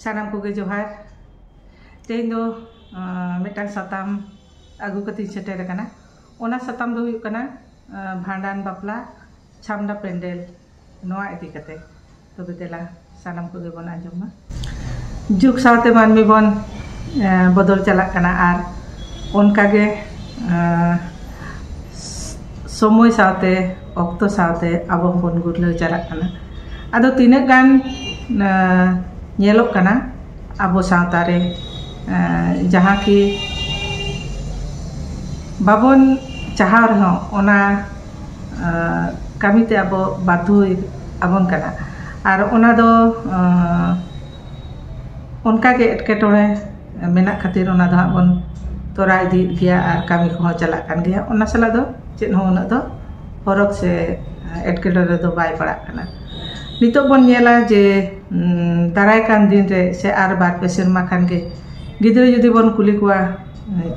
ᱥᱟᱱᱟᱢ ᱠᱚᱜᱮ ᱡᱚᱦᱟᱨ ᱛᱮᱦᱮᱧ ᱫᱚ ᱢᱤᱫᱴᱟᱝ ᱥᱟᱛᱟᱢ ᱟᱹᱜᱩ ᱠᱟᱛᱮᱧ ᱥᱮᱴᱮᱨ ᱟᱠᱟᱱᱟ ᱚᱱᱟ ᱥᱟᱛᱟᱢ ᱫᱚ ᱦᱩᱭᱩᱜ ᱠᱟᱱᱟ ᱵᱷᱟᱸᱰᱟᱱ ᱵᱟᱯᱞᱟ ᱪᱷᱟᱢᱰᱟ ᱯᱮᱱᱰᱮᱞ ᱱᱚᱣᱟ ᱤᱫᱤ ᱠᱟᱛᱮ ᱛᱚᱵᱮ ᱫᱮᱞᱟ ᱥᱟᱱᱟᱢ ᱠᱚᱜᱮ ᱵᱚᱱ ᱟᱸᱡᱚᱢ ᱢᱟ ᱡᱩᱜᱽ ᱥᱟᱶᱛᱮ ᱢᱟᱹᱱᱢᱤ ᱵᱚᱱ ᱵᱚᱫᱚᱞ ᱪᱟᱞᱟᱜ ᱠᱟᱱᱟ ᱟᱨ ᱚᱱᱠᱟᱜᱮ ᱥᱚᱢᱚᱭ ᱥᱟᱶᱛᱮ ᱚᱠᱛᱚ ᱥᱟᱶᱛᱮ ᱟᱵᱚ ᱦᱚᱸᱵᱚᱱ ᱜᱩᱨᱞᱟᱹᱣ ᱪᱟᱞᱟᱜ ᱠᱟᱱᱟ ᱟᱫᱚ ᱛᱤᱱᱟᱹᱜ ᱜᱟᱱ ᱧᱮᱞᱚᱜ ᱠᱟᱱᱟ ᱟᱵᱚ ᱥᱟᱶᱛᱟ ᱨᱮ ᱡᱟᱦᱟᱸ ᱠᱤ ᱵᱟᱵᱚᱱ ᱪᱟᱦᱟᱣ ᱨᱮᱦᱚᱸ ᱚᱱᱟ ᱠᱟᱹᱢᱤᱛᱮ ᱟᱵᱚ ᱵᱟᱫᱽᱫᱷᱚ ᱟᱵᱚᱱ ᱠᱟᱱᱟ ᱟᱨ ᱚᱱᱟ ᱫᱚ ᱚᱱᱠᱟᱜᱮ ᱮᱴᱠᱮᱴᱚᱬᱮ ᱢᱮᱱᱟᱜ ᱠᱷᱟᱹᱛᱤᱨ ᱚᱱᱟ ᱫᱚ ᱦᱟᱸᱜ ᱵᱚᱱ ᱛᱚᱨᱟᱣ ᱤᱫᱤᱭᱮᱫ ᱜᱮᱭᱟ ᱟᱨ ᱠᱟᱹᱢᱤ ᱠᱚᱦᱚᱸ ᱪᱟᱞᱟᱜ ᱠᱟᱱ ᱜᱮᱭᱟ ᱚᱱᱟ ᱥᱟᱞᱟᱜ ᱫᱚ ᱪᱮᱫ ᱦᱚᱸ ᱩᱱᱟᱹᱜ ᱫᱚ ᱯᱷᱚᱨᱚᱠ ᱥᱮ ᱮᱴᱠᱮᱴᱚᱬᱮ ᱫᱚ ᱵᱟᱭ ᱯᱟᱲᱟᱜ ᱠᱟᱱᱟ ᱱᱤᱛᱚᱜ ᱵᱚᱱ ᱧᱮᱞᱟ ᱡᱮ ᱫᱟᱨᱟᱭ ᱠᱟᱱ ᱫᱤᱱ ᱨᱮ ᱥᱮ ᱟᱨ ᱵᱟᱨ ᱯᱮ ᱥᱮᱨᱢᱟ ᱠᱷᱟᱱ ᱜᱮ ᱜᱤᱫᱽᱨᱟᱹ ᱡᱩᱫᱤ ᱵᱚᱱ ᱠᱩᱞᱤ ᱠᱚᱣᱟ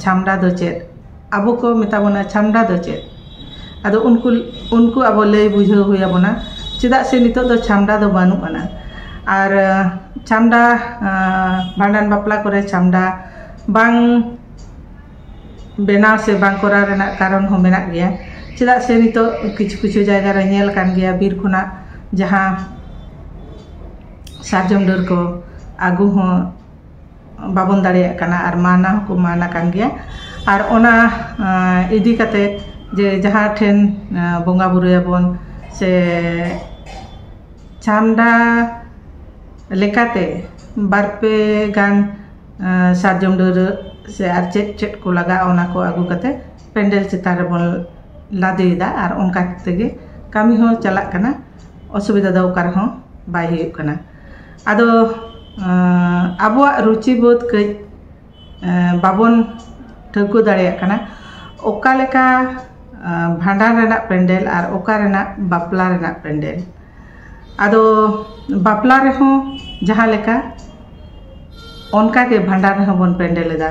ᱪᱷᱟᱢᱰᱟ ᱫᱚ ᱪᱮᱫ ᱟᱵᱚ ᱠᱚ ᱢᱮᱛᱟ ᱵᱚᱱᱟ ᱪᱷᱟᱢᱰᱟ ᱫᱚ ᱪᱮᱫ ᱟᱫᱚ ᱩᱱᱠᱩ ᱩᱱᱠᱩ ᱟᱵᱚ ᱞᱟᱹᱭ ᱵᱩᱡᱷᱟᱹᱣ ᱦᱩᱭ ᱟᱵᱚᱱᱟ ᱪᱮᱫᱟᱜ ᱥᱮ ᱱᱤᱛᱚᱜ ᱫᱚ ᱪᱷᱟᱢᱰᱟ ᱫᱚ ᱵᱟᱹᱱᱩᱜ ᱟᱱᱟ ᱟᱨ ᱪᱷᱟᱢᱰᱟ ᱵᱷᱟᱸᱰᱟᱱ ᱵᱟᱯᱞᱟ ᱠᱚᱨᱮ ᱪᱷᱟᱢᱰᱟ ᱵᱟᱝ ᱵᱮᱱᱟᱣ ᱥᱮ ᱵᱟᱝ ᱠᱚᱨᱟᱣ ᱨᱮᱱᱟᱜ ᱠᱟᱨᱚᱱ ᱦᱚᱸ ᱢᱮᱱᱟᱜ ᱜᱮᱭᱟ ᱪᱮᱫᱟᱜ ᱥᱮ ᱱᱤᱛᱚᱜ ᱠᱤᱪᱷᱩ ᱠᱤᱪᱷᱩ ᱡᱟᱭᱜᱟ ᱨᱮ ᱧᱮᱞ ᱠᱟᱱ ᱜᱮᱭᱟ ᱵᱤᱨ ᱠᱷᱚᱱᱟᱜ ᱡᱟᱦᱟᱸ ᱥᱟᱨᱡᱚᱢ ᱰᱟᱹᱨ ᱠᱚ ᱟᱹᱜᱩ ᱦᱚᱸ ᱵᱟᱵᱚᱱ ᱫᱟᱲᱮᱭᱟᱜ ᱠᱟᱱᱟ ᱟᱨ ᱢᱟᱱᱟ ᱦᱚᱸᱠᱚ ᱢᱟᱱ ᱟᱠᱟᱱ ᱜᱮᱭᱟ ᱟᱨ ᱚᱱᱟ ᱤᱫᱤ ᱠᱟᱛᱮ ᱡᱮ ᱡᱟᱦᱟᱸ ᱴᱷᱮᱱ ᱵᱚᱸᱜᱟ ᱵᱳᱨᱳᱭᱟᱵᱚᱱ ᱥᱮ ᱪᱷᱟᱢᱰᱟ ᱞᱮᱠᱟᱛᱮ ᱵᱟᱨ ᱯᱮ ᱜᱟᱱ ᱥᱟᱨᱡᱚᱢ ᱰᱟᱹᱨ ᱥᱮ ᱟᱨ ᱪᱮᱫ ᱪᱮᱫ ᱠᱚ ᱞᱟᱜᱟᱜᱼᱟ ᱚᱱᱟ ᱠᱚ ᱟᱹᱜᱩ ᱠᱟᱛᱮ ᱯᱮᱱᱰᱮᱞ ᱪᱮᱛᱟᱱ ᱨᱮᱵᱚᱱ ᱞᱟᱫᱮᱭᱮᱫᱟ ᱟᱨ ᱚᱱᱠᱟ ᱠᱟᱛᱮ ᱜᱮ ᱠᱟᱹᱢᱤ ᱦᱚᱸ ᱪᱟᱞᱟᱜ ᱠᱟᱱᱟ ᱚᱥᱩᱵᱤᱫᱟ ᱫᱚ ᱚᱠᱟ ᱨᱮᱦᱚᱸ ᱵᱟᱭ ᱦᱩᱭᱩᱜ ᱠᱟᱱᱟ ᱟᱫᱚ ᱟᱵᱚᱣᱟᱜ ᱨᱩᱪᱤ ᱵᱳᱫᱷ ᱠᱟᱹᱡ ᱵᱟᱵᱚᱱ ᱴᱷᱟᱹᱣᱠᱟᱹ ᱫᱟᱲᱮᱭᱟᱜ ᱠᱟᱱᱟ ᱚᱠᱟ ᱞᱮᱠᱟ ᱵᱷᱟᱸᱰᱟᱱ ᱨᱮᱱᱟᱜ ᱯᱮᱱᱰᱮᱞ ᱟᱨ ᱚᱠᱟ ᱨᱮᱱᱟᱜ ᱵᱟᱯᱞᱟ ᱨᱮᱱᱟᱜ ᱯᱮᱱᱰᱮᱞ ᱟᱫᱚ ᱵᱟᱯᱞᱟ ᱨᱮᱦᱚᱸ ᱡᱟᱦᱟᱸ ᱞᱮᱠᱟ ᱚᱱᱠᱟᱜᱮ ᱵᱷᱟᱸᱰᱟᱱ ᱨᱮᱦᱚᱸ ᱵᱚᱱ ᱯᱮᱱᱰᱮᱞ ᱮᱫᱟ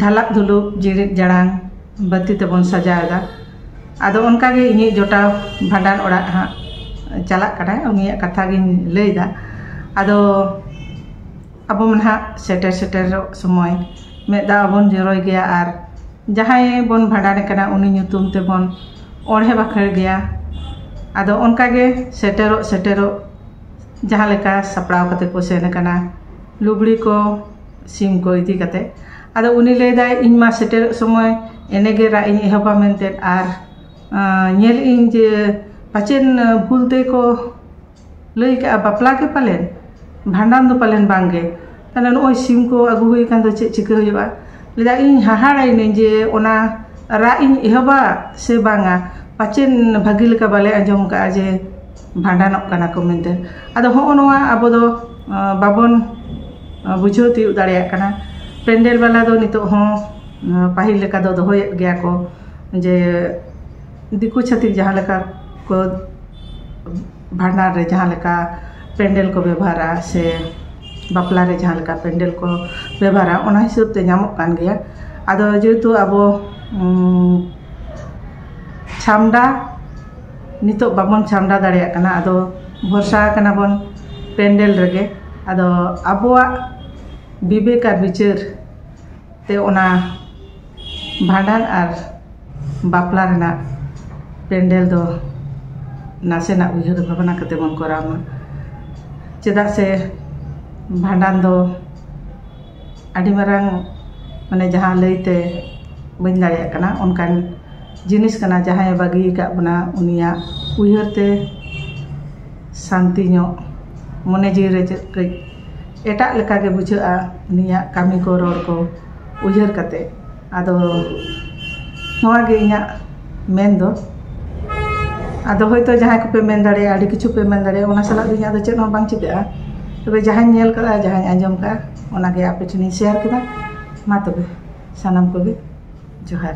ᱫᱷᱟᱞᱟᱠ ᱫᱷᱩᱞᱩᱠ ᱡᱤᱲᱤᱫ ᱡᱟᱲᱟᱝ ᱵᱟᱹᱛᱤ ᱛᱮᱵᱚᱱ ᱥᱟᱡᱟᱣ ᱮᱫᱟ ᱟᱫᱚ ᱚᱱᱠᱟ ᱜᱮ ᱤᱧᱤᱡ ᱡᱚᱴᱟᱣ ᱵᱷᱟᱸᱰᱟᱱ ᱚᱲᱟᱜ ᱦᱟᱸᱜ ᱪᱟᱞᱟᱜ ᱠᱟᱱᱟᱭ ᱩᱱᱤᱭᱟᱜ ᱠᱟᱛᱷᱟ ᱜᱤᱧ ᱞᱟᱹᱭᱫᱟ ᱟᱫᱚ ᱟᱵᱚ ᱢᱟ ᱱᱟᱦᱟᱜ ᱥᱮᱴᱮᱨ ᱥᱮᱴᱮᱨᱚᱜ ᱥᱚᱢᱚᱭ ᱢᱮᱫ ᱫᱟᱜ ᱦᱚᱸᱵᱚᱱ ᱡᱚᱨᱚᱭ ᱜᱮᱭᱟ ᱟᱨ ᱡᱟᱦᱟᱸᱭ ᱵᱚᱱ ᱵᱷᱟᱸᱰᱟᱱᱮ ᱠᱟᱱᱟ ᱩᱱᱤ ᱧᱩᱛᱩᱢ ᱛᱮᱵᱚᱱ ᱚᱬᱦᱮ ᱵᱟᱠᱷᱮᱲ ᱜᱮᱭᱟ ᱟᱫᱚ ᱚᱱᱠᱟ ᱜᱮ ᱥᱮᱴᱮᱨᱚᱜ ᱥᱮᱴᱮᱨᱚᱜ ᱡᱟᱦᱟᱸ ᱞᱮᱠᱟ ᱥᱟᱯᱲᱟᱣ ᱠᱟᱛᱮ ᱠᱚ ᱥᱮᱱ ᱠᱟᱱᱟ ᱞᱩᱜᱽᱲᱤ ᱠᱚ ᱥᱤᱢ ᱠᱚ ᱤᱫᱤ ᱠᱟᱛᱮ ᱟᱫᱚ ᱩᱱᱤ ᱞᱟᱹᱭᱫᱟᱭ ᱤᱧ ᱢᱟ ᱥᱮᱴᱮᱨᱚᱜ ᱥᱚᱢᱚᱭ ᱮᱱᱮᱜᱮ ᱨᱟᱜ ᱤᱧ ᱮᱦᱚᱵᱟ ᱢᱮᱱᱛᱮ ᱟᱨ ᱧᱮᱞᱮᱫ ᱟᱹᱧ ᱡᱮ ᱯᱟᱪᱮᱫ ᱵᱷᱩᱞ ᱛᱮᱠᱚ ᱞᱟᱹᱭ ᱠᱟᱜᱼᱟ ᱵᱟᱯᱞᱟ ᱜᱮ ᱯᱟᱞᱮᱱ ᱵᱷᱟᱸᱰᱟᱱ ᱫᱚ ᱯᱟᱞᱮᱱ ᱵᱟᱝᱜᱮ ᱛᱟᱦᱚᱞᱮ ᱱᱚᱜᱼᱚᱭ ᱥᱤᱢ ᱠᱚ ᱟᱹᱜᱩ ᱦᱩᱭ ᱠᱟᱱ ᱫᱚ ᱪᱮᱫ ᱪᱤᱠᱟᱹ ᱦᱩᱭᱩᱜᱼᱟ ᱞᱟᱹᱭᱫᱟᱭ ᱤᱧ ᱦᱟᱦᱟᱲᱟᱭᱮᱱᱟᱹᱧ ᱡᱮ ᱚᱱᱟ ᱨᱟᱜ ᱤᱧ ᱮᱦᱚᱵᱟ ᱥᱮ ᱵᱟᱝᱟ ᱯᱟᱪᱮᱫ ᱵᱷᱟᱹᱜᱤ ᱞᱮᱠᱟ ᱵᱟᱞᱮ ᱟᱸᱡᱚᱢ ᱠᱟᱜᱼᱟ ᱡᱮ ᱵᱷᱟᱸᱰᱟᱱᱚᱜ ᱠᱟᱱᱟ ᱠᱚ ᱢᱮᱱᱛᱮ ᱟᱫᱚ ᱦᱚᱸᱜᱼᱚ ᱱᱚᱣᱟ ᱟᱵᱚ ᱫᱚ ᱵᱟᱵᱚᱱ ᱵᱩᱡᱷᱟᱹᱣ ᱛᱤᱭᱳᱜ ᱫᱟᱲᱮᱭᱟᱜ ᱠᱟᱱᱟ ᱯᱮᱱᱰᱮᱞ ᱵᱟᱞᱟ ᱫᱚ ᱱᱤᱛᱚᱜ ᱦᱚᱸ ᱯᱟᱹᱦᱤᱞ ᱞᱮᱠᱟ ᱫᱚ ᱫᱚᱦᱚᱭᱮᱫ ᱜᱮᱭᱟ ᱠᱚ ᱡᱮ ᱫᱤᱠᱩ ᱪᱷᱟᱹᱛᱤᱠ ᱡᱟᱦᱟᱸ ᱞᱮᱠᱟ ᱠᱚ ᱵᱷᱟᱸᱰᱟᱱ ᱨᱮ ᱡᱟᱦᱟᱸ ᱞᱮᱠᱟ ᱯᱮᱱᱰᱮᱞ ᱠᱚ ᱵᱮᱵᱚᱦᱟᱨᱟ ᱥᱮ ᱵᱟᱯᱞᱟ ᱨᱮ ᱡᱟᱦᱟᱸ ᱞᱮᱠᱟ ᱯᱮᱱᱰᱮᱞ ᱠᱚ ᱵᱮᱵᱚᱦᱟᱨᱟ ᱚᱱᱟ ᱦᱤᱥᱟᱹᱵ ᱛᱮ ᱧᱟᱢᱚᱜ ᱠᱟᱱ ᱜᱮᱭᱟ ᱟᱫᱚ ᱡᱮᱦᱮᱛᱩ ᱟᱵᱚ ᱪᱷᱟᱢᱰᱟ ᱱᱤᱛᱚᱜ ᱵᱟᱵᱚᱱ ᱪᱷᱟᱢᱰᱟ ᱫᱟᱲᱮᱭᱟᱜ ᱠᱟᱱᱟ ᱟᱫᱚ ᱵᱷᱚᱨᱥᱟ ᱟᱠᱟᱱᱟ ᱵᱚᱱ ᱯᱮᱱᱰᱮᱞ ᱨᱮᱜᱮ ᱟᱫᱚ ᱟᱵᱚᱣᱟᱜ ᱵᱤᱵᱮᱠ ᱟᱨ ᱵᱤᱪᱟᱹᱨ ᱛᱮ ᱚᱱᱟ ᱵᱷᱟᱸᱰᱟᱱ ᱟᱨ ᱵᱟᱯᱞᱟ ᱨᱮᱱᱟᱜ ᱯᱮᱱᱰᱮᱞ ᱫᱚ ᱱᱟᱥᱮᱱᱟᱜ ᱩᱭᱦᱟᱹᱨ ᱵᱷᱟᱵᱽᱱᱟ ᱠᱟᱛᱮ ᱵᱚᱱ ᱠᱚᱨᱟᱣ ᱢᱟ ᱪᱮᱫᱟᱜ ᱥᱮ ᱵᱷᱟᱸᱰᱟᱱ ᱫᱚ ᱟᱹᱰᱤ ᱢᱟᱨᱟᱝ ᱢᱟᱱᱮ ᱡᱟᱦᱟᱸ ᱞᱟᱹᱭᱛᱮ ᱵᱟᱹᱧ ᱫᱟᱲᱮᱭᱟᱜ ᱠᱟᱱᱟ ᱚᱱᱠᱟᱱ ᱡᱤᱱᱤᱥ ᱠᱟᱱᱟ ᱡᱟᱦᱟᱸᱭᱮ ᱵᱟᱹᱜᱤ ᱠᱟᱜ ᱵᱚᱱᱟ ᱩᱱᱤᱭᱟᱜ ᱩᱭᱦᱟᱹᱨ ᱛᱮ ᱥᱟᱱᱛᱤ ᱧᱚᱜ ᱢᱚᱱᱮ ᱡᱤᱣᱤ ᱨᱮ ᱪᱮᱫ ᱠᱟᱹᱡ ᱮᱴᱟᱜ ᱞᱮᱠᱟᱜᱮ ᱵᱩᱡᱷᱟᱹᱜᱼᱟ ᱩᱱᱤᱭᱟᱜ ᱠᱟᱹᱢᱤ ᱠᱚ ᱨᱚᱲ ᱠᱚ ᱩᱭᱦᱟᱹᱨ ᱠᱟᱛᱮ ᱟᱫᱚ ᱱᱚᱣᱟ ᱜᱮ ᱤᱧᱟᱹᱜ ᱢᱮᱱ ᱫᱚ ᱟᱫᱚ ᱦᱳᱭᱛᱳ ᱡᱟᱦᱟᱸᱭ ᱠᱚᱯᱮ ᱢᱮᱱ ᱫᱟᱲᱮᱭᱟᱜᱼᱟ ᱟᱹᱰᱤ ᱠᱤᱪᱷᱩ ᱯᱮ ᱢᱮᱱ ᱫᱟᱲᱮᱭᱟᱜᱼᱟ ᱚᱱᱟ ᱥᱟᱞᱟᱜ ᱫᱚ ᱤᱧᱟᱹᱜ ᱫᱚ ᱪᱮᱫ ᱦᱚᱸ ᱵᱟᱝ ᱪᱤᱠᱟᱹᱜᱼᱟ ᱛᱚᱵᱮ ᱡᱟᱦᱟᱸᱧ ᱧᱮᱞ ᱠᱟᱫᱟ ᱡᱟᱦᱟᱸᱧ ᱟᱸᱡᱚᱢ ᱠᱟᱫᱟ ᱚᱱᱟ ᱜᱮ ᱟᱯᱮ ᱴᱷᱮᱱᱤᱧ ᱥᱮᱭᱟᱨ ᱠᱮᱫᱟ ᱢᱟ ᱛᱚᱵᱮ ᱥᱟᱱᱟᱢ ᱠᱚᱜᱮ ᱡᱚᱦᱟᱨ